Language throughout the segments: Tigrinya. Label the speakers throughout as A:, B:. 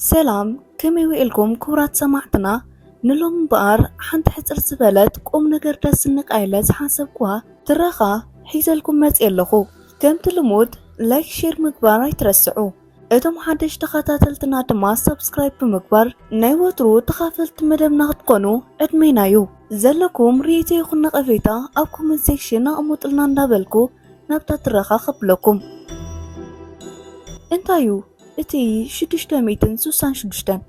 A: ሰላም ከመይ ውዒልኩም ክቡራት ሰማዕትና ንሎም እምበኣር ሓንቲ ሕፅር ዝበለት ቁም ነገር ደስ ንቃ ኢለ ዝሓሰብኩዋ ትረኻ ሒዘልኩም መፅየ ኣለኹ ከምቲ ልሙድ ላይክ ሼር ምግባር ኣይትረስዑ እቶም ሓደሽ ተኸታተልትና ድማ ሰብስክራይብ ብምግባር ናይ ወትሩ ተኻፈልቲ መደብና ክትኮኑ ዕድሜና እዩ ዘለኩም ርእይቶ ይኹን ነቐፌታ ኣብ ኮመንት ሴክሽን ኣቕሙጥልና እንዳበልኩ ናብታ ትረኻ ከብለኩም። እንታዩ እቲ ሽዱሽተ ሚእትን ስሳን ሽዱሽተን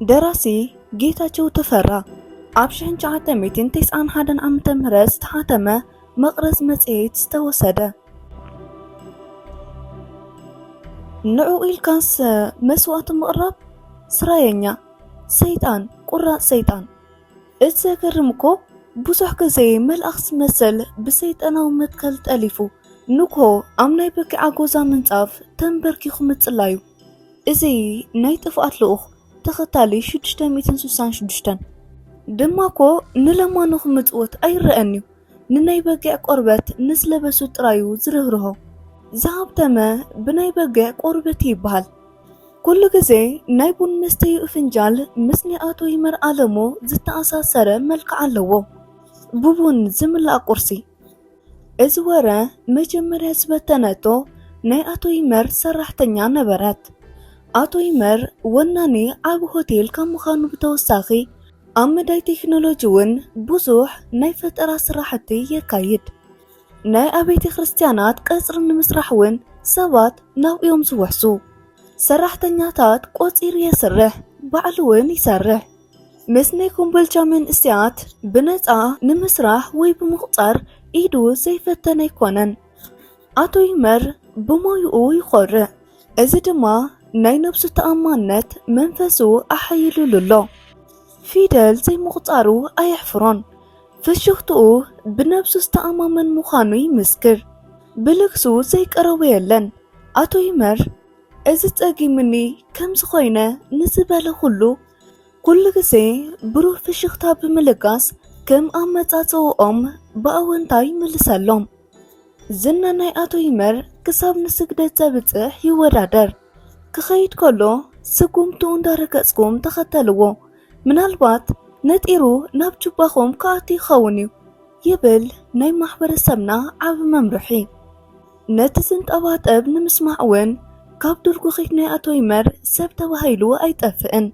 A: ደራሲ ጌታቸው ተፈራ ኣብ ሽሕን ትሽዓተ ሚእትን ተስዓን ሓደን ዓመተ ምህረት ዝተሓተመ መቕረዝ መጽሔት ዝተወሰደ ንዑ ኢልካስ መስዋእቲ ምቕራብ ስራየኛ ሰይጣን ቁራጽ ሰይጣን እቲ ዘገርም እኮ ብዙሕ ግዜ መልኣኽ ዝመስል ብሰይጣናዊ መትከል ጠሊፉ ንግሆ ኣብ ናይ በኪዓ ጎዛ ምንጻፍ ተንበርኪኹ ምጽላዩ እዚ ናይ ጥፍኣት ልኡኽ ተኸታሊ 666 ድማ እኮ ንለማኑ ክምጽወት ኣይረአን እዩ። ንናይ በጊዕ ቆርበት ንዝለበሱ ጥራዩ ዝርህርሆ ዝሃብተመ ብናይ በጊዕ ቆርበት ይበሃል። ኩሉ ግዜ ናይ ቡን መስተይኡ ፍንጃል ምስ ናይ ኣቶ ይመር ኣለሞ ዝተኣሳሰረ መልክዕ ኣለዎ። ብቡን ዝምላእ ቁርሲ እዚ ወረ መጀመርያ ዝበተነቶ ናይ ኣቶ ይመር ሰራሕተኛ ነበረት። ኣቶ ይመር ወናኒ ዓቢ ሆቴል ካብ ምዃኑ ብተወሳኺ ኣብ መዳይ ቴክኖሎጂ እውን ብዙሕ ናይ ፈጠራ ስራሕቲ የካይድ። ናይ ኣቤተ ክርስቲያናት ቀጽሪ ንምስራሕ እውን ሰባት ናብኡዮም ዝውሕዙ። ሰራሕተኛታት ቆጺሩ የስርሕ፣ ባዕሉ እውን ይሰርሕ። ምስ ናይ ኮምቦልቻ መንእሰያት ብነጻ ንምስራሕ ወይ ብምቑጻር ኢዱ ዘይፈተነ ኣይኮነን። ኣቶ ይመር ብሞይኡ ይኾርዕ። እዚ ድማ ናይ ነብሱ ተኣማንነት መንፈሱ ኣሓይሉሉ ኣሎ። ፊደል ዘይምቑጻሩ ኣየሕፍሮን። ፍሽኽትኡ ብነብሱ ዝተኣማመን ምዃኑ ይምስክር። ብልግሱ ዘይቀረቦ የለን። ኣቶ ይመር እዚ ጸጊሙኒ ከምዚ ኮይነ ንዝበለ ኩሉ ኩሉ ግዜ ብሩህ ፍሽኽታ ብምልጋስ ከም ኣመጻጽእኦም ብኣወንታ ይምልሰሎም። ዝና ናይ ኣቶ ይመር ክሳብ ንስግደት ዘብጽሕ ይወዳደር። ክኸይድ ከሎ ስጉምቱ እንዳረገጽኩም ተኸተልዎ፣ ምናልባት ነጢሩ ናብ ጁባኹም ክኣቱ ይኸውን እዩ ይብል ናይ ማሕበረሰብና ዓቢ መምርሒ። ነቲ ዝንጠባጠብ ንምስማዕ እውን ካብ ዱርጉኺት ናይ ኣቶ ይመር ሰብ ተባሂሉ ኣይጠፍእን።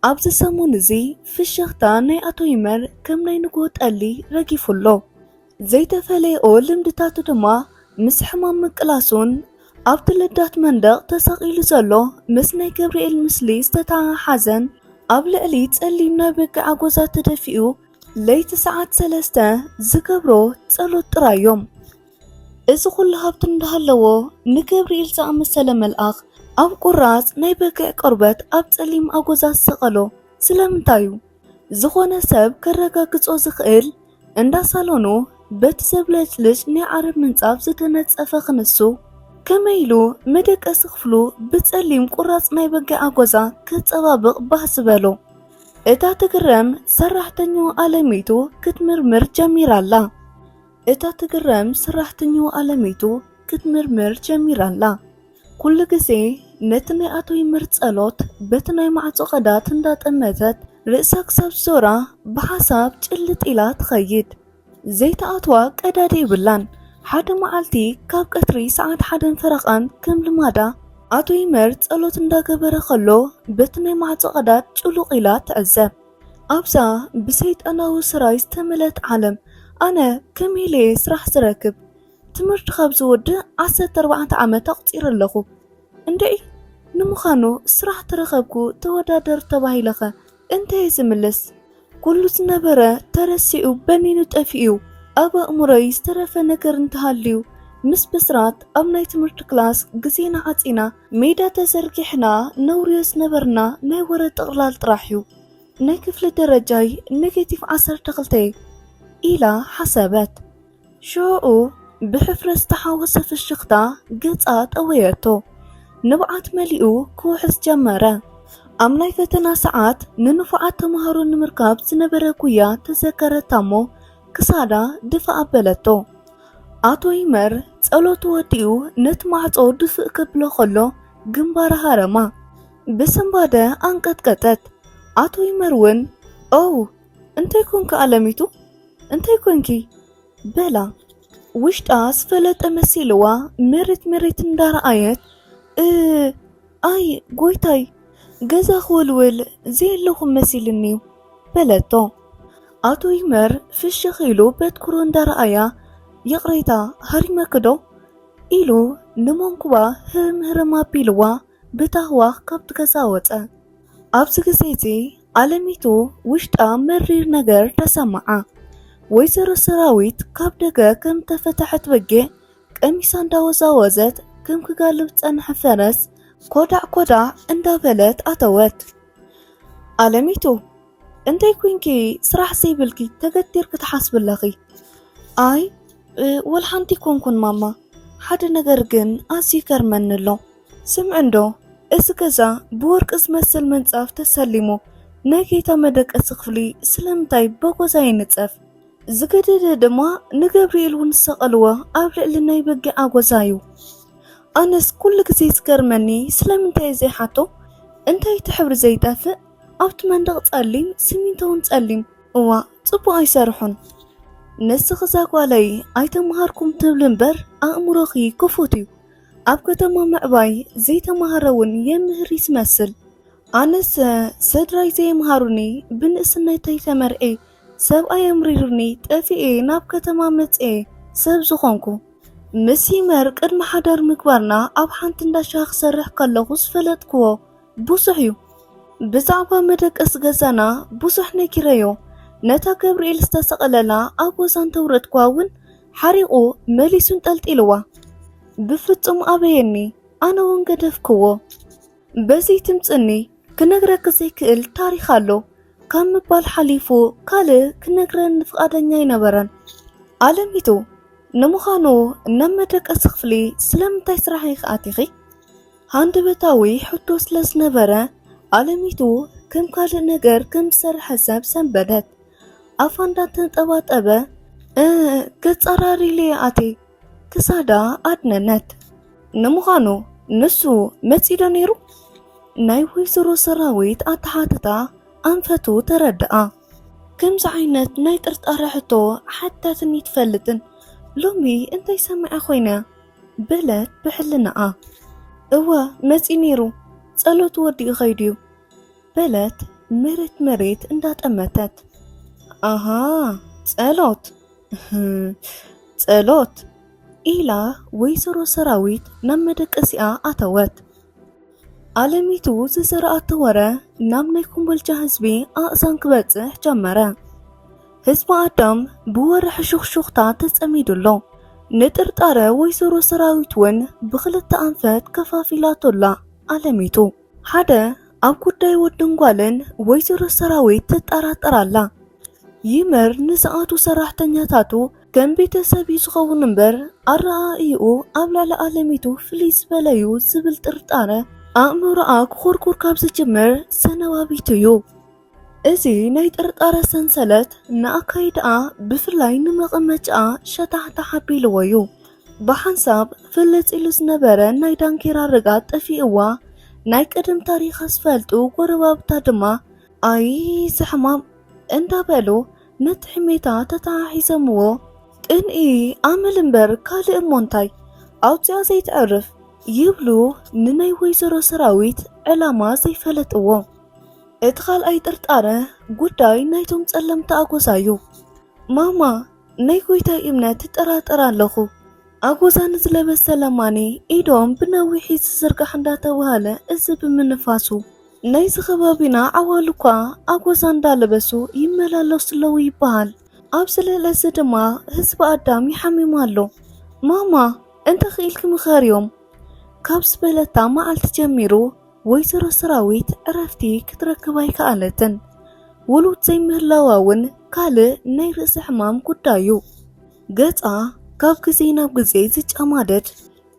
A: ኣብዚ ሰሙን እዚ ፍሽኽታ ናይ ኣቶ ይመር ከም ናይ ንግሆ ጠሊ ረጊፉ ኣሎ። ዘይተፈለየኦ ልምድታቱ ድማ ምስ ሕማም ምቅላሱን ኣብቲ ልዳት መንደቕ ተሰቒሉ ዘሎ ምስ ናይ ገብርኤል ምስሊ ዝተተሓሓዘን ኣብ ልዕሊ ጸሊም ናይ በጊዕ ኣጎዛ ተደፊኡ ለይቲ ሰዓት ሰለስተ ዝገብሮ ጸሎት ጥራይ እዮም። እዚ ኩሉ ሃብቲ እንዳሃለዎ ንገብርኤል ዝኣመሰለ መልኣኽ ኣብ ቁራጽ ናይ በግዕ ቆርበት ኣብ ጸሊም ኣጎዛ ዝሰቐሎ ስለምንታይ እዩ? ዝኾነ ሰብ ከረጋግጾ ዝኽእል እንዳ ሳሎኑ በቲ ዘብለጭልጭ ናይ ዓረብ ምንጻፍ ዝተነጸፈ ክንሱ፣ ከመይ ኢሉ መደቀሲ ክፍሉ ብጸሊም ቁራጽ ናይ በጊዕ ኣጎዛ ከጸባብቕ ባስ በሎ። እታ ትግረም ሰራሕተኞ ኣለሚቱ ክትምርምር ጀሚራ ኣላ። እታ ትግረም ሰራሕተኞ ኣለሚቱ ክትምርምር ጀሚራ ኣላ። ኩሉ ግዜ ነቲ ናይ ኣቶ ይመር ጸሎት በቲ ናይ ማዕጾ ቀዳት እንዳጠመተት ርእሳ ክሳብ ዝዞራ ብሓሳብ ጭልጥ ኢላ ትኸይድ። ዘይትኣትዋ ቀዳድ የብላን። ሓደ መዓልቲ ካብ ቀትሪ ሰዓት ሓደን ፈረቓን ከም ልማዳ ኣቶ ይመር ጸሎት እንዳገበረ ከሎ በቲ ናይ ማዕጾ ቀዳድ ጭሉቕ ኢላ ትዕዘብ። ኣብዛ ብሰይጣናዊ ስራይ ዝተመልአት ዓለም ኣነ ከመይ ኢለየ ስራሕ ዝረክብ? ትምህርቲ ካብ ዝውድእ ዓሰርተ ኣርባዕተ ዓመት ኣቑጺረ ኣለኹ። እንድዒ ንምዃኑ ስራሕ ተረኸብኩ ተወዳደር ተባሂለኸ እንተየ ዝምልስ? ኩሉ ዝነበረ ተረሲዑ በኒኑ ጠፊኡ ኣብ ኣእምሮይ ዝተረፈ ነገር እንተሃልዩ ምስ ብስራት ኣብ ናይ ትምህርቲ ክላስ ግዜና ዓጺና ሜዳ ተዘርጊሕና ነውርዮ ዝነበርና ናይ ወረ ጥቕላል ጥራሕ እዩ ናይ ክፍሊ ደረጃይ ኔጌቲቭ ዓሰርተ ክልተ ኢላ ሓሰበት ሽዑ ብሕፍረት ዝተሓወሰ ፍሽኽታ ገጻ ጠወየቶ። ንብዓት መሊኡ ክውሕዝ ጀመረ። ኣብ ናይ ፈተና ሰዓት ንንፉዓት ተምሃሮ ንምርካብ ዝነበረ ጉያ ተዘከረታ እሞ ክሳዳ ድፋእ ኣበለቶ። ኣቶ ይመር ጸሎቱ ወዲኡ ነቲ ማዕጾ ድፍእ ከብሎ ከሎ ግንባራ ሃረማ። ብስንባደ ኣንቀጥቀጠት። ኣቶ ይመር እውን ኦው እንታይ ኮንኪ ኣለሚቱ እንታይ ኮንኪ በላ ውሽጣ ዝፈለጠ መሲልዋ መሬት መሬት እንዳረኣየት እ ኣይ ጎይታይ ገዛ ክውልውል ዘየለኹም መሲልኒዩ በለቶ ኣቶ ይመር ፍሽኽ ኢሉ በትኩሮ እንዳረኣያ ይቕሬታ ሃሪመክዶ ኢሉ ንመንኩባ ህርም ህርም ኣቢልዋ ብታህዋኽ ካብቲ ገዛ ወጸ። ኣብዚ ግዜ እዚ ኣለሚቱ ውሽጣ መሪር ነገር ተሰመዓ። ወይዘሮ ሰራዊት ካብ ደገ ከም እተፈተሐት በጊዕ ቀሚሳ እንዳወዛወዘት ከም ክጋልብ ዝጸንሐ ፈረስ ኮዳዕ ኮዳዕ እንዳበለት ኣተወት። ኣለሚቱ እንታይ ኮንኪ ስራሕ ዘይብልኪ ተገቲርኪ ትሓስቢ ኣለኺ? ኣይ ወልሓንቲ ኮንኩን ማማ፣ ሓደ ነገር ግን ኣዝዩ ይገርመኒ ኣሎ። ስምዕንዶ እዚ ገዛ ብወርቂ ዝመስል ምንፃፍ ተሰሊሙ ናይ ጌታ መደቀሲ ክፍሊ ስለምንታይ በጎዛ ይንፀፍ? ዝገደደ ድማ ንገብርኤል እውን ዝሰቐልዎ ኣብ ልዕሊ ናይ በጊዕ ኣጎዛ እዩ። ኣነስ ኩሉ ግዜ ዝገርመኒ ስለምንታይ እዩ ዘይሓቶ? እንታይ እቲ ሕብሪ ዘይጠፍእ? ኣብቲ መንደቕ ጸሊም ሲሚንቶ እውን ጸሊም። እዋ ጽቡቕ ኣይሰርሑን። ንስኺ እዛ ጓለይ ኣይተምሃርኩም ትብሊ እምበር ኣእምሮኺ ክፉት እዩ። ኣብ ከተማ ምዕባይ ዘይተማህረ ውን የምህር ይስመስል ኣነስ ሰድራይ ዘየምሃሩኒ ብንእስነተይ ተመርዔ ሰብኣይ ኣምሪሩኒ ጠፊኤ ናብ ከተማ መጽኤ ሰብ ዝኾንኩ ምስ ይመር ቅድሚ ሓዳር ምግባርና ኣብ ሓንቲ እንዳሻሂ ክሰርሕ ከለኹ ዝፈለጥክዎ ብዙሕ እዩ ብዛዕባ መደቀስ ገዛና ብዙሕ ነጊረዮ ነታ ገብርኤል ዝተሰቐለላ ኣብ ወዛን ተውረድኳ እውን ሓሪቑ መሊሱን ጠልጢልዋ ብፍጹም ኣበየኒ ኣነ እውን ገደፍክዎ በዚ ትምፅኒ ክነግረክ ዘይክእል ታሪክ ኣሎ ካብ ምባል ሓሊፉ ካልእ ክነግረን ፍቓደኛ ኣይነበረን ኣለሚቱ ንምዃኑ ናብ መደቀሲ ክፍሊ ስለምንታይ ስራሕ ኢኺ ኣቲኺ ሃንደበታዊ ሕቶ ስለ ዝነበረ ኣለሚቱ ከም ካልእ ነገር ከም ዝሰርሐ ሰብ ሰንበደት ኣፋ እንዳተንጠባጠበ ገጻራሪለየ ኣቴ ክሳዳ ኣድነነት። ንምዃኑ ንሱ መጺዶ ነይሩ? ናይ ወይዘሮ ሰራዊት ኣተሓትታ ኣንፈቱ ተረድኣ። ከምዚ ዓይነት ናይ ጥርጣረ ሕቶ ሓቲታትኒ ትፈልጥን ሎሚ እንታይ ሰሚዐ ኮይነ? በለት ብሕልናኣ። እወ መጺኡ ነይሩ፣ ጸሎቱ ወዲኡ ኸይዱ'ዩ በለት መሬት መሬት እንዳጠመተት። ኣሃ ጸሎት ጸሎት ኢላ ወይዘሮ ሰራዊት ናብ መደቀሲኣ ኣተወት። ኣለሚቱ ዝዘረኣቶ ወረ ናብ ናይ ኮምቦልቻ ህዝቢ ኣእዛን ክበጽሕ ጀመረ። ህዝቢ ኣዳም ብወረ ሕሹኽሹኽታ ተጸሚዱ ኣሎ። ንጥርጣረ ወይዘሮ ሰራዊት እውን ብኽልተ ኣንፈት ከፋፊላቶ ኣላ ኣለሚቱ። ሓደ ኣብ ጉዳይ ወድን ጓልን ወይዘሮ ሰራዊት ትጠራጠር ኣላ። ይመር ንዝኣቱ ሰራሕተኛታቱ ከም ቤተሰብ እዩ ዝኸውን እምበር ኣረኣእይኡ ኣብ ልዕሊ ኣለሚቱ ፍልይ ዝበለ እዩ ዝብል ጥርጣረ ኣእምሮኣ ክኹርኩር ካብ ዝጅምር ሰነባቢቱ እዩ። እዚ ናይ ጥርጣረ ሰንሰለት ንኣካይዳኣ ብፍላይ ንመቐመጫኣ ሸታሕታሕ ኣቢልዎ እዩ። ብሓንሳብ ፍልጥ ኢሉ ዝነበረ ናይ ዳንኬራ ርግኣት ጠፊእዋ ናይ ቀደም ታሪኻ ዝፈልጡ ጎረባብታ ድማ ኣይ እዚ ሕማም እንዳበሉ ነቲ ሕሜታ ተተሓሒዘምዎ። ቅንኢ ኣመል እምበር ካልእ እሞ እንታይ ኣውጺኣ ዘይተዕርፍ ይብሉ ንናይ ወይዘሮ ሰራዊት ዕላማ ዘይፈለጥዎ። እቲ ካልኣይ ጥርጣረ ጉዳይ ናይቶም ጸለምቲ ኣጎዛ እዩ። ማማ ናይ ጎይታይ እምነት እጠራጠር ኣለኹ። ኣጎዛ ንዝለበሰ ለማኒ ኢዶም ብነዊሒ ዝዝርጋሕ እንዳተባህለ እዚ ብምንፋሱ። ናይዚ ከባቢና ዓዋሉ እኳ ኣጎዛ እንዳለበሱ ይመላለሱ ኣለዉ ይበሃል። ኣብዚ ልዕሊ እዚ ድማ ህዝቢ ኣዳም ይሓምም ኣሎ። ማማ እንተ ኽኢልኪ ምኸርዮም ካብ ዝበለታ መዓልቲ ጀሚሩ ወይዘሮ ሰራዊት ዕረፍቲ ክትረክብ ኣይከኣለትን። ውሉድ ዘይምህላዋ እውን ካልእ ናይ ርእሲ ሕማም ጉዳይ እዩ። ገጻ ካብ ግዜ ናብ ግዜ ዝጨማደድ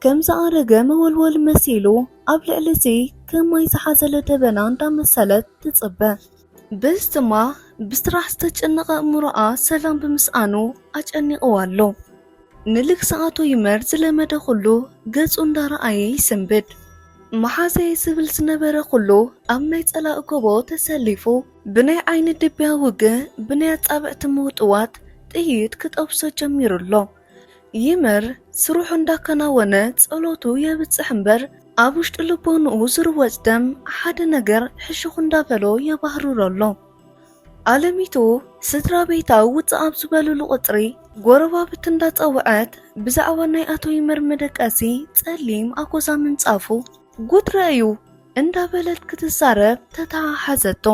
A: ከም ዝኣረገ መወልወል መሲሉ ኣብ ልዕሊ እዚ ከም ማይ ዝሓዘለ ደበና እንዳመሰለት ትጽበ። ብዝትማ ብስራሕ ዝተጨነቐ እእምሮኣ ሰላም ብምስኣኑ ኣጨኒቕዋ ኣሎ። ንልግሲ ኣቶ ይመር ዝለመደ ኩሉ ገጹ እንዳረኣየ ይስንብድ። መሓዘይ ዝብል ዝነበረ ኩሉ ኣብ ናይ ጸላእ ጎቦ ተሰሊፉ ብናይ ዓይኒ ድብያ ውግእ ብናይ ኣጻብዕቲ ምውጥዋጥ ጥይት ክጠብሶ ጀሚሩ ኣሎ። ይመር ስርሑ እንዳከናወነ ጸሎቱ የብጽሕ እምበር ኣብ ውሽጢ ልቦንኡ ዝርወጽ ደም ሓደ ነገር ሕሹኽ እንዳበሎ የባህርሮ ኣሎ። ኣለሚቱ ስድራ ቤታ ውጽእ ኣብ ዝበልሉ ቁጽሪ ጎረባብቲ እንዳጸውዐት ብዛዕባ ናይ ኣቶ ይመር መደቀሲ ጸሊም ኣጎዛ ምንጻፉ፣ ጉትረ እዩ እንዳበለት ክትዛረብ ተተሓሓዘቶ።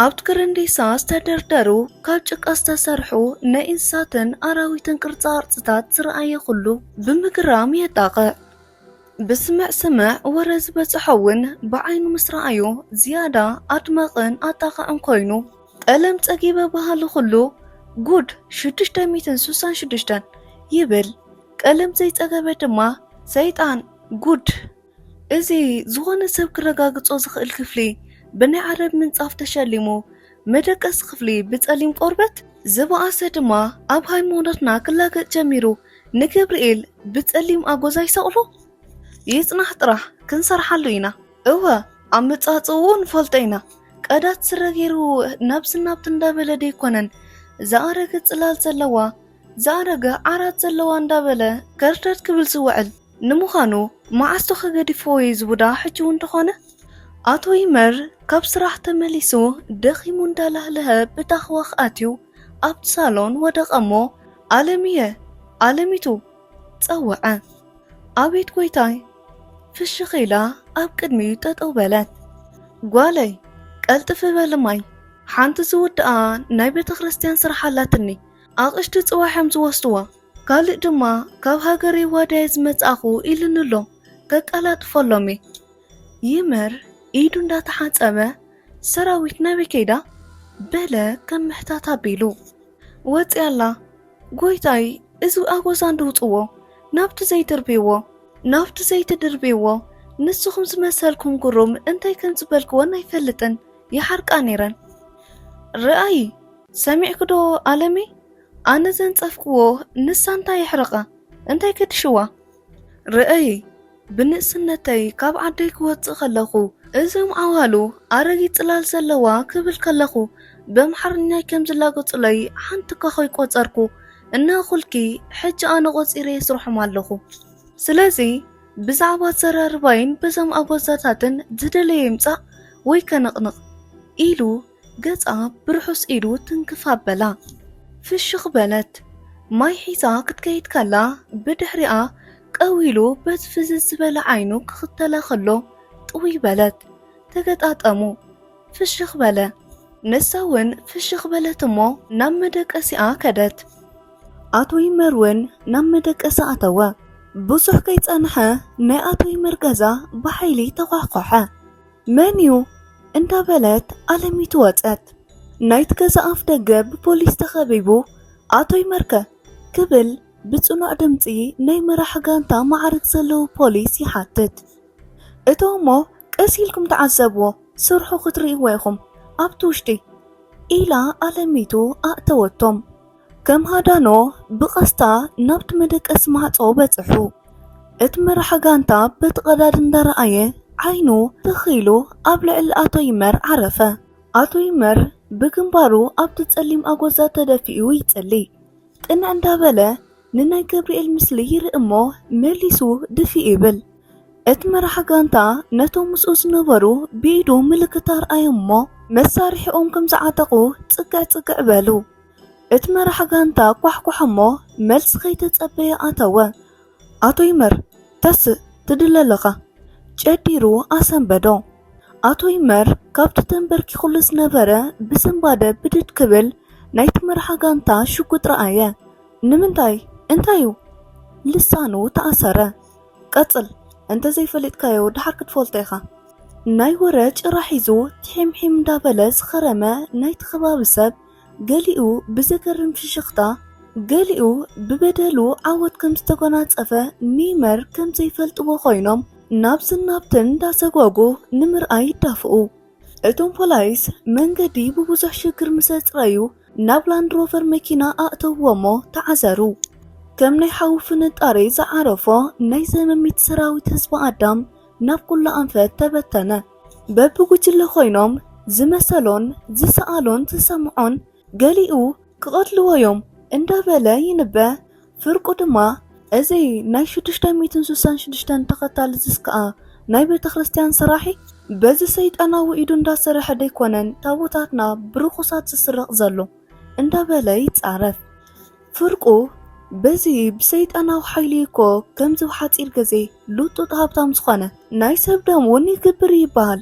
A: ኣብቲ ክርንዲሳ ዝተደርደሩ ካብ ጭቃ ዝተሰርሑ ናይ እንስሳትን ኣራዊትን ቅርፃቅርፅታት ዝረኣየ ኩሉ ብምግራም የጣቕዕ። ብስምዕ ስምዕ ወረ ዝበፅሖ እውን ብዓይኑ ምስ ረኣዮ ዝያዳ ኣድማቕን ኣጣቓዕን ኮይኑ ጠለም ፀጊበ በሃሊ ኩሉ ጉድ ሽዱሽተ ሚእትን ስሳን ሽዱሽተን ይብል። ቀለም ዘይፀገበ ድማ ሰይጣን! ጉድ! እዚ ዝኾነ ሰብ ክረጋግጾ ዝኽእል ክፍሊ ብናይ ዓረብ ምንጻፍ ተሸሊሙ፣ መደቀሲ ክፍሊ ብጸሊም ቆርበት፣ ዝበኣሰ ድማ ኣብ ሃይማኖትና ክላገጽ ጀሚሩ፣ ንገብርኤል ብጸሊም ኣጎዛ ይሰቕሎ? ይጽናሕ ጥራሕ ክንሰርሓሉ ኢና። እወ ኣመጻጽእኡ ንፈልጦ ኢና፣ ቀዳድ ስረ ጌሩ ናብዚ ናብቲ እንዳበለ ደይኮነን ዝኣረገ ጽላል ዘለዋ፣ ዝኣረገ ዓራት ዘለዋ እንዳበለ ከርተት ክብል ዝውዕል። ንምዃኑ መዓስ ዶኸ ገዲፍዎ እዩ እዚ ቡዳ ሕጂ እውን ተኾነ? ኣቶ ይመር ካብ ስራሕ ተመሊሱ ደኺሙ እንዳላህለሀ ብታኽዋኽ ኣትዩ ኣብቲ ሳሎን ወደቐ እሞ ኣለምየ! ኣለሚቱ! ጸወዐ። ኣቤት ጎይታይ! ፍሽኽ ኢላ ኣብ ቅድሚኡ ጠጠው በለት። ጓለይ! ቀልጥፊ በሊ ማይ! ሓንቲ ዝውድኣ ናይ ቤተክርስትያን ስራሕ ኣላትኒ ኣቕሽቲ ጽባሕ እዮም ዝወስድዋ። ካልእ ድማ ካብ ሃገረይ ዋዳየ ዝመጻእኹ ኢሉኒ'ሎ። ከቀላጥፈሎም'የ። ይመር ኢዱ እንዳተሓጸበ ሰራዊት ናበይ ከይዳ? በለ ከም ምሕታት ኣቢሉ። ወጺኣ ኣላ። ጎይታይ እዚ ኣጎዛ እንድውጽዎ ናብቲ ዘይድርብይዎ ናብቲ ዘይትድርብይዎ ንስኹም ዝመሰልኩም ጉሩም እንታይ ከም ዝበልክወን ኣይፈልጥን ይሓርቃ ነይረን። ርኣዪ ሰሚዕኪዶ ኣለሚ ኣነ ዘንጸፍክዎ ንሳ እንታይ የሕርቃ እንታይ ከድሽዋ። ርእይ ብንእስነተይ ካብ ዓደይ ክወጽእ ከለኩ እዞም ዓዋሉ ኣረጊት ጽላል ዘለዋ ክብል ከለኩ በምሓርኛይ ከም ዝላገጹለይ ሓንቲ እኳ ከይቆጸርኩ እናኣኩልኪ ሕጂ ኣነ ቆጺረ የስርሖም ኣለኩ ስለዚ ብዛዕባ ኣዘራርባይን በዞም ኣጎዛታትን ዝደለዮ ይምጻእ ወይ ከንቅንቅ ኢሉ ገጻ ብርሑስ ኢዱ ትንክፍ ኣበላ። ፍሽኽ በለት። ማይ ሒዛ ክትከይድ ከላ ብድሕሪኣ ቀው ኢሉ በቲ ፍዝዝ ዝበለ ዓይኑ ክኽተላ ከሎ ጥውይ በለት። ተገጣጠሙ። ፍሽኽ በለ። ንሳ እውን ፍሽኽ በለት እሞ ናብ መደቀሲኣ ከደት። ኣቶ ይመር እውን ናብ መደቀሲ ኣተወ። ብዙሕ ከይጸንሐ ናይ ኣቶ ይመር ገዛ ብሓይሊ ተዃሕኳሐ። መን እዩ? እንዳበለት ኣለሚቱ ወጸት። ናይቲ ገዛ ኣፍ ደገ ብፖሊስ ተኸቢቡ ኣቶ ይመርከ ክብል ብጽኑዕ ድምጺ ናይ መራሒ ጋንታ መዓርግ ዘለዎ ፖሊስ ይሓትት። እቶ እሞ ቀስ ኢልኩም ተዓዘብዎ ስርሑ ክትርእይዎ ኢኹም ኣብቲ ውሽጢ ኢላ ኣለሚቱ ኣእተወቶም። ከም ሃዳኖ ብቐስታ ናብቲ መደቀሲ ማዕጾ በጽሑ። እቲ መራሒ ጋንታ በቲ ቀዳድ እንዳረኣየ ዓይኑ ትኽ ኢሉ ኣብ ልዕሊ ኣቶ ይመር ዓረፈ። ኣቶ ይመር ብግንባሩ ኣብቲ ጸሊም ኣጎዛ ተደፊኡ ይጽሊ። ቅንዕ እንዳበለ ንናይ ገብርኤል ምስሊ ይርኢ እሞ መሊሱ ድፊእ ይብል። እቲ መራሒ ጋንታ ነቶም ምስኡ ዝነበሩ ብኢዱ ምልክት ኣርኣዮም እሞ መሳርሒኦም ከም ዝዓጠቑ ጽግዕ ጽግዕ በሉ። እቲ መራሕ ጋንታ ኳሕኳሕ እሞ መልሲ ከይተጸበየ ኣተወ። ኣቶ ይመር ተስእ ትድለ ኣለኻ ጨዲሩ ኣሰንበዶ። ኣቶ ይመር ካብቲ ተንበርኪኹሉ ዝነበረ ብስንባደ ብድድ ክብል ናይቲ መርሓ ጋንታ ሽጉጥ ረኣየ። ንምንታይ እንታይ እዩ ልሳኑ ተኣሰረ። ቀጽል እንተዘይፈሊጥካዮ ድሓር ክትፈልጦ ኢኻ። ናይ ወረ ጭራ ሒዙ ቲሒምሒም እንዳበለ ዝኸረመ ናይቲ ከባቢ ሰብ ገሊኡ ብዘገርም ፍሽኽታ፣ ገሊኡ ብበደሉ ዓወት ከም ዝተጎናጸፈ ኔይመር ከም ዘይፈልጥዎ ኮይኖም ናብዝን ናብትን እንዳሰጓጉ ንምርኣይ ይዳፍኡ። እቶም ፖላይስ መንገዲ ብብዙሕ ሽግር ምስ ኣጽረዩ ናብ ላንድሮቨር መኪና ኣእተውዎ'ሞ ተዓዘሩ። ከም ናይ ሓዊ ፍንጣሪ ዝዓረፎ ናይ ዘመሚት ሰራዊት ህዝቢ ኣዳም ናብ ኩሉ ኣንፈት ተበተነ። በብጉጅለ ኮይኖም ዝመሰሎን ዝሰኣሎን ዝሰምዖን ገሊኡ ክቐትልዎ'ዮም እንዳበለ ይንበ። ፍርቁ ድማ እዚ ናይ ሽዱሽተ ሚእትን ስሳን ሽዱሽተን ተኸታሊ ዝስከኣ ናይ ቤተክርስትያን ሰራሒ በዚ ሰይጣናዊ ኢዱ እንዳሰረሐ ደይኮነን ታቦታትና ብርኹሳት ዝስረቕ ዘሎ እንዳበለ ይጻረፍ። ፍርቁ በዚ ብሰይጣናዊ ሓይሊ እኮ ከምዚ ሓፂር ግዜ ሉጡጥ ሃብታም ዝኾነ ናይ ሰብ ደም እውን ይግብር ይበሃል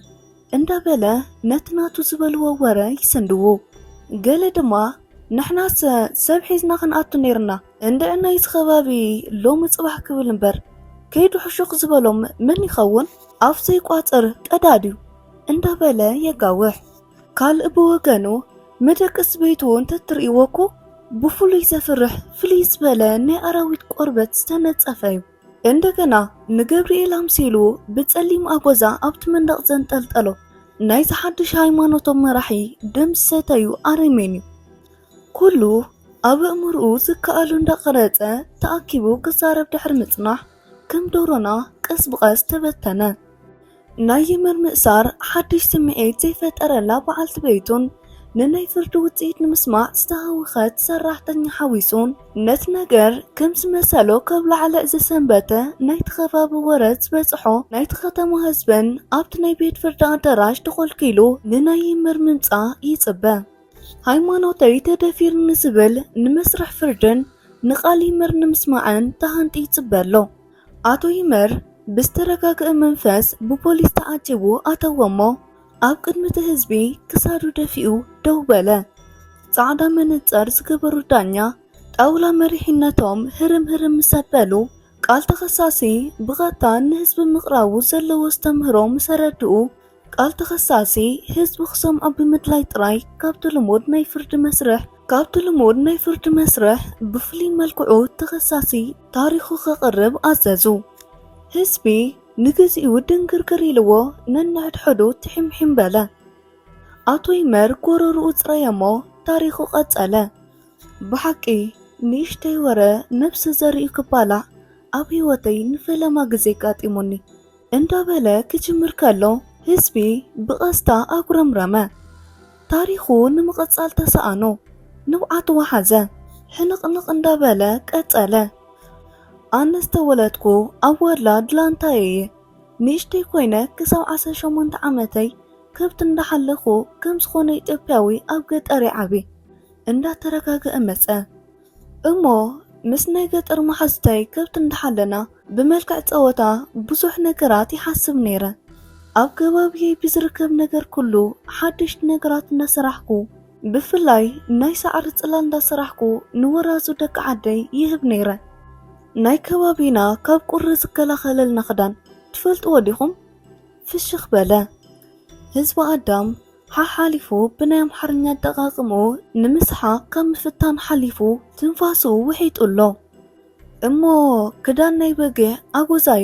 A: እንዳበለ ነቲ ናቱ ዝበልዎ ወረ ይስንድዉ። ገለ ድማ ንሕናሰ ሰብ ሒዝና ክንኣቱ ነይርና እንድዒ ናይዚ ከባቢ ሎሚ ፅባሕ ክብል እምበር ከይዱ ሕሹኽ ዝበሎም መን ይኸውን ኣፍ ዘይቋፅር ቀዳድ እዩ እንዳበለ የጋውሕ። ካልእ ብወገኑ መደቅስ ቤቱ እንተትርእይዎ እኮ ብፍሉይ ዘፍርሕ ፍልይ ዝበለ ናይ ኣራዊት ቆርበት ዝተነፀፈ እዩ። እንደገና ንገብርኤል ኣምሲሉ ብፀሊም ኣጎዛ ኣብቲ መንደቕ ዘንጠልጠሎ ናይዚ ሓድሽ ሃይማኖቶም መራሒ ደም ዝሰተዩ ኣረሜን እዩ። ኩሉ ኣብ እምርኡ ዝከኣሉ እንዳቐረፀ ተኣኪቡ ክዛረብ ድሕሪ ምጽናሕ ከም ዶሮና ቀስ ብቐስ ተበተነ። ናይ የመን ምእሳር ሓድሽ ስምዒት ዘይፈጠረላ በዓልቲ ቤቱን ንናይ ፍርዲ ውፅኢት ንምስማዕ ዝተሃወኸት ሰራሕተኛ ሓዊሱን ነቲ ነገር ከም ዝመሰሎ ከብላዕልዕ ዝሰንበተ ናይቲ ከባቢ ወረ ዝበፅሖ ናይቲ ከተማ ህዝብን ኣብቲ ናይ ቤት ፍርዲ ኣዳራሽ ተኾልኪሉ ንናይ የመር ምምፃእ ይፅበ። ሃይማኖተይ ተደፊሩ ንዝብል ንመስርሕ ፍርድን ንቃል የመር ንምስማዕን ተሃንጢ ይፅበ ኣሎ። ኣቶ ይመር ብዝተረጋግእ መንፈስ ብፖሊስ ተዓጂቡ ኣተወሞ ኣብ ቅድሚቲ ህዝቢ ክሳዱ ደፊኡ ደው በለ። ጻዕዳ መነጸር ዝገበሩ ዳኛ ጣውላ መሪሕነቶም ህርም ህርም ምስ ኣበሉ ቃል ተኸሳሲ ብቐጥታ ንህዝቢ ምቕራቡ ዘለዎ ኣስተምህሮ ምስ ኣረድኡ ቃል ተኸሳሲ ህዝቢ ክሰምዖ ብምድላይ ጥራይ ካብቲ ልሙድ ናይ ፍርዲ መስርሕ ካብቲ ልሙድ ናይ ፍርዲ መስርሕ ብፍሉይ መልክዑ ተኸሳሲ ታሪኹ ከቕርብ ኣዘዙ። ህዝቢ ንግዚኡ ድንግርግር ኢልዎ ነንሕድሕዱ ትሒምሒም በለ። ኣቶ ይመር ጎረርኡ ጽረየ'ሞ ታሪኹ ቀጸለ። ብሓቂ ንእሽተይ ወረ ነብሰ ዘርኡ ክባላዕ ኣብ ህይወተይ ንፈለማ ግዜ ኣጋጢሙኒ። እንዳበለ ክጅምር ከሎ ህዝቢ ብቐስታ ኣጉረምረመ። ታሪኹ ንምቕጻል ተሳኣኖ። ንብዓት ወሓዘ። ሕንቕንቕ እንዳበለ ቀጸለ። ኣነ ዝተወለድኩ ኣብ ወላ ድላንታይ እየ። ንእሽተይ ኮይነ ክሳብ ዓሰርተ ሸሞንተ ዓመተይ ከብቲ እንዳሓለኹ ከም ዝኾነ ኢትዮጵያዊ ኣብ ገጠር ይዓቢ። እንዳተረጋገኣ መጸ። እሞ ምስ ናይ ገጠር መሓዙተይ ከብቲ እንዳሓለና ብመልክዕ ጸወታ ብዙሕ ነገራት ይሓስብ ነይረ። ኣብ ከባቢየይ ብዝርከብ ነገር ኩሉ ሓደሽቲ ነገራት እንዳሰራሕኩ ብፍላይ ናይ ሳዕሪ ጽላል እንዳሰራሕኩ ንወራዙ ደቂ ዓደይ ይህብ ነይረ። ናይ ከባቢና ካብ ቁሪ ዝከላኸለልና ክዳን ትፈልጥዎ ዲኹም? ፍሽኽ በለ ህዝቢ ኣዳም። ሓሓሊፉ ብናይ ኣምሓርኛ ኣጠቓቕምኡ ንምስሓቕ ካብ ምፍታን ሓሊፉ ትንፋሱ ውሒጡ ኣሎ። እሞ ክዳን ናይ በጊዕ ኣጎዛዩ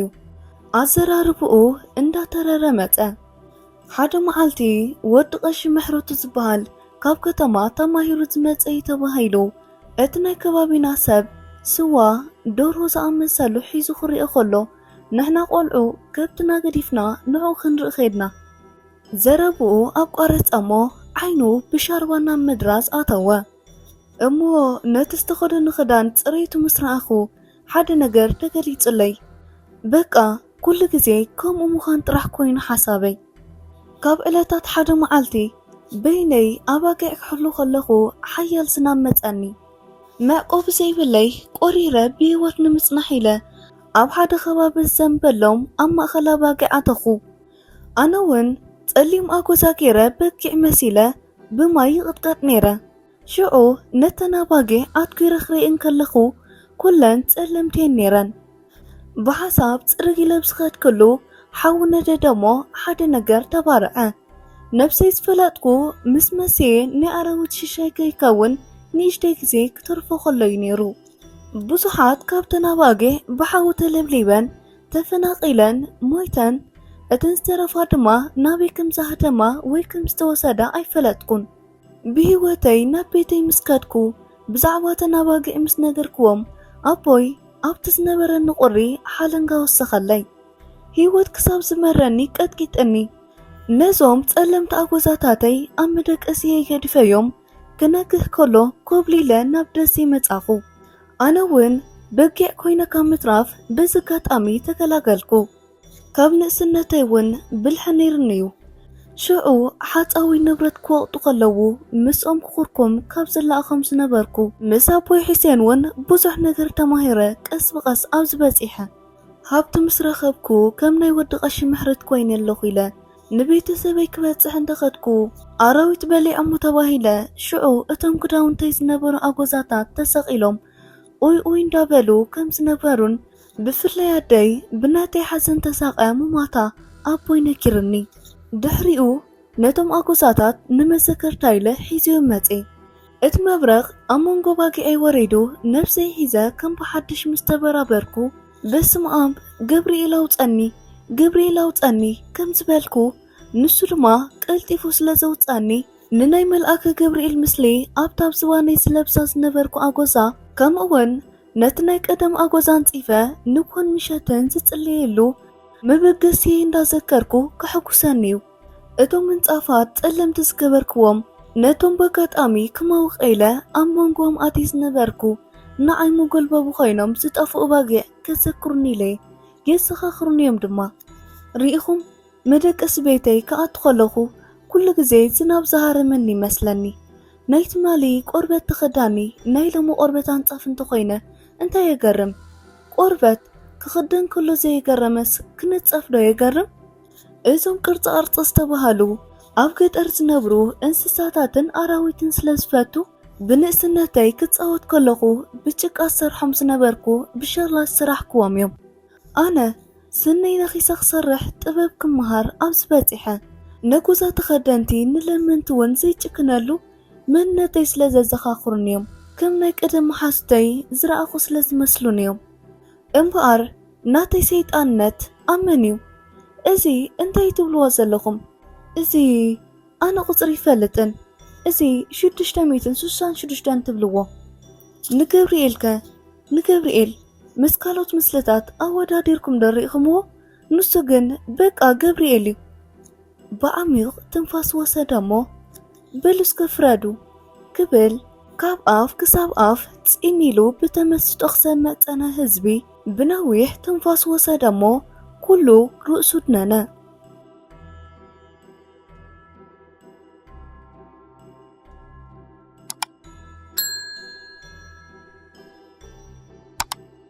A: ኣዘራርብኡ እንዳተረረ መጸ። ሓደ መዓልቲ ወዲ ቀሺ ምሕረቱ ዝበሃል ካብ ከተማ ተማሂሩ ዝመጸ እዩ ተባሂሉ እቲ ናይ ከባቢና ሰብ ስዋ ደርሆ ዝኣመሰሉ ሒዙ ክርኤ ከሎ ንሕና ቆልዑ ከብትና ገዲፍና ንዕኡ ክንርኢ ከድና። ዘረብኡ ኣቋረጸ'ሞ ዓይኑ ብሻርባ ናብ ምድራዝ ኣተወ። እሞ ነቲ ዝተኸደኖ ክዳን ጽሬቱ ምስ ረኣኹ ሓደ ነገር ተገሊጹለይ። በቃ ኩሉ ግዜ ከምኡ ምዃን ጥራሕ ኮይኑ ሓሳበይ። ካብ ዕለታት ሓደ መዓልቲ በይነይ ኣባጊዕ ክሕሉ ከለኹ ሓያል ዝናብ መጸኒ። መዕቆቢ ዘይብለይ ቆሪረ ብህይወት ንምጽናሕ ኢለ ኣብ ሓደ ከባቢ ዝዘንበሎም ኣብ ማእከል ኣባጊዕ ኣተኹ። ኣነ ውን ጸሊም ኣጎዛ ጌረ በጊዕ መሲለ ብማይ ይቕጥቀጥ ኔረ። ሽዑ ነተን ኣባጊዕ ኣትኲረ ክርእየን ከለኹ ኩለን ጸለምቲ የን ኔረን። ብሓሳብ ጽርግ ኢለ ብዝኸድክሉ ሓዊ ነደደ'ሞ ሓደ ነገር ተባርዐ። ነብሰይ ዝፈለጥኩ ምስ መሲየ ናይ ኣራዊት ሽሻይ ከይከውን ንእሽተይ ግዜ ክተርፎ ከሎ'ዩ ኔሩ። ብዙሓት ካብተን ኣባጊዕ ብሓዊ ተለብሊበን ተፈናቒለን ሞይተን፣ እተን ዝተረፋ ድማ ናበይ ከም ዝሃደማ ወይ ከም ዝተወሰዳ ኣይፈለጥኩን። ብህይወተይ ናብ ቤተይ ምስ ከድኩ ብዛዕባ እተን ኣባጊዕ ምስ ነገርክዎም፣ ኣቦይ ኣብቲ ዝነበረኒ ቁሪ ሓለንጋ ወሰኸለይ። ህይወት ክሳብ ዝመረኒ ቀጥቂጥኒ። ነዞም ጸለምቲ ኣጎዛታተይ ኣብ መደቀሲየይ ገዲፈዮም ክነግህ ከሎ ኮብሊለ ናብ ደሴ መጻኹ። ኣነ እውን በጊዕ ኮይነ ካብ ምትራፍ በዚ ኣጋጣሚ ተገላገልኩ። ካብ ንእስነተይ እውን ብልሒ ነይሩኒ እዩ። ሽዑ ሓጻዊ ንብረት ክወቕጡ ከለዉ ምስኦም ክኹርኩም ካብ ዝለኣኾም ዝነበርኩ። ምስ ኣቦይ ሑሴን እውን ብዙሕ ነገር ተማሂረ ቀስ ብቐስ ኣብዚ በጺሐ። ሃብቲ ምስ ረኸብኩ ከም ናይ ወዲ ቀሺ ምሕረት ኮይነ ኣለኹ ኢለ ንቤተሰበይ ክበጽሕ እንተ ኸድኩ፣ ኣራዊት በሊዖሞ ተባሂለ። ሽዑ እቶም ክዳውንተይ ዝነበሩ ኣጎዛታት ተሰቒሎም ኡይ ኡይ እንዳ በሉ ከም ዝነበሩን ብፍላይ ኣደይ ብናተይ ሓዘን ተሳቕያ ምሟታ ኣቦይ ነጊሩኒ። ድሕሪኡ ነቶም ኣጎዛታት ንመዘከርታ ኢለ ሒዜዮም መጼ። እቲ መብረቕ ኣብ መንጎ ኣባጊዐይ ወሪዱ ነብሰይ ሒዘ ከም ብሓድሽ ምስ ተበራበርኩ፣ በስመኣም ገብርኤል ኣውፀኒ ገብርኤል ኣውፀኒ ከም ዝበልኩ ንሱ ድማ ቀልጢፉ ስለ ዘውፀኣኒ ንናይ መልኣከ ገብርኤል ምስሊ ኣብታ ኣብ ዝባነይ ዝለብሳ ዝነበርኩ ኣጎዛ ከምኡውን ነቲ ናይ ቀደም ኣጎዛ ኣንፂፈ ንጎን ምሸትን ዝፅለየሉ መበገሲየይ እንዳዘከርኩ ከሕጉሰኒ እዩ። እቶም ምንጻፋት ጸለምቲ ዝገበርክዎም ነቶም በጋጣሚ ክመውቕ ኢለ ኣብ መንጎኦም ኣትየ ዝነበርኩ ንዓይ መጎልበቢ ኮይኖም ዝጠፍኡ ባጊዕ ከዘክሩኒ ኢለ የዘኻኽሩኒ'ዮም ድማ። ርኢኹም መደቀሲ ቤተይ ክኣቱ ከለኹ ኩሉ ግዜ ዝናብ ዝሃረመኒ ይመስለኒ። ናይ ትማሊ ቆርበት ተኸዳኒ ናይ ሎሚ ቆርበት ኣንጻፍ እንተኾይነ እንታይ የገርም? ቆርበት ክኽደን ከሎ ዘይገረመስ ክንጸፍ'ዶ የገርም? እዞም ቅርፃ ቅርፂ ዝተባሃሉ ኣብ ገጠር ዝነብሩ እንስሳታትን ኣራዊትን ስለ ዝፈቱ ብንእስነተይ ክፃወት ከለኹ ብጭቃ ዝሰርሖም ዝነበርኩ ብሸኽላ ዝሰራሕክዎም እዮም። ኣነ ስነይ ነኺሰ ክሰርሕ ጥበብ ክመሃር ኣብዚ በፂሐ ነጎዛ ተኸደንቲ ንለመንቲ እውን ዘይጭክነሉ መንነተይ ስለ ዘዘኻኽሩኒ እዮም። ከም ናይ ቀደም መሓዙተይ ዝረኣኹ ስለ ዝመስሉኒ እዮም። እምብኣር ናተይ ሰይጣንነት ኣብ መን እዩ እዚ እንታይ ትብልዎ ዘለኹም እዚ ኣነ ቁጽሪ ይፈልጥን እዚ ሽዱሽተ ሚእትን ስሳን ሽዱሽተን ትብልዎ ንገብርኤልከ ንገብርኤል ምስ ካልኦት ምስልታት ኣወዳዲርኩም ዶ ሪእኽምዎ ንሱ ግን በቃ ገብርኤል እዩ። ብዓሚዩቕ ትንፋስ ወሰደ እሞ በሉ እስከ ፍረዱ ክብል ካብ ኣፍ ክሳብ ኣፍ ፂን ኢሉ ብተመስጦ ክሰምዕ ፀነ ህዝቢ ብነዊሕ ትንፋስ ወሰደ እሞ ኩሉ ርእሱ ድነነ።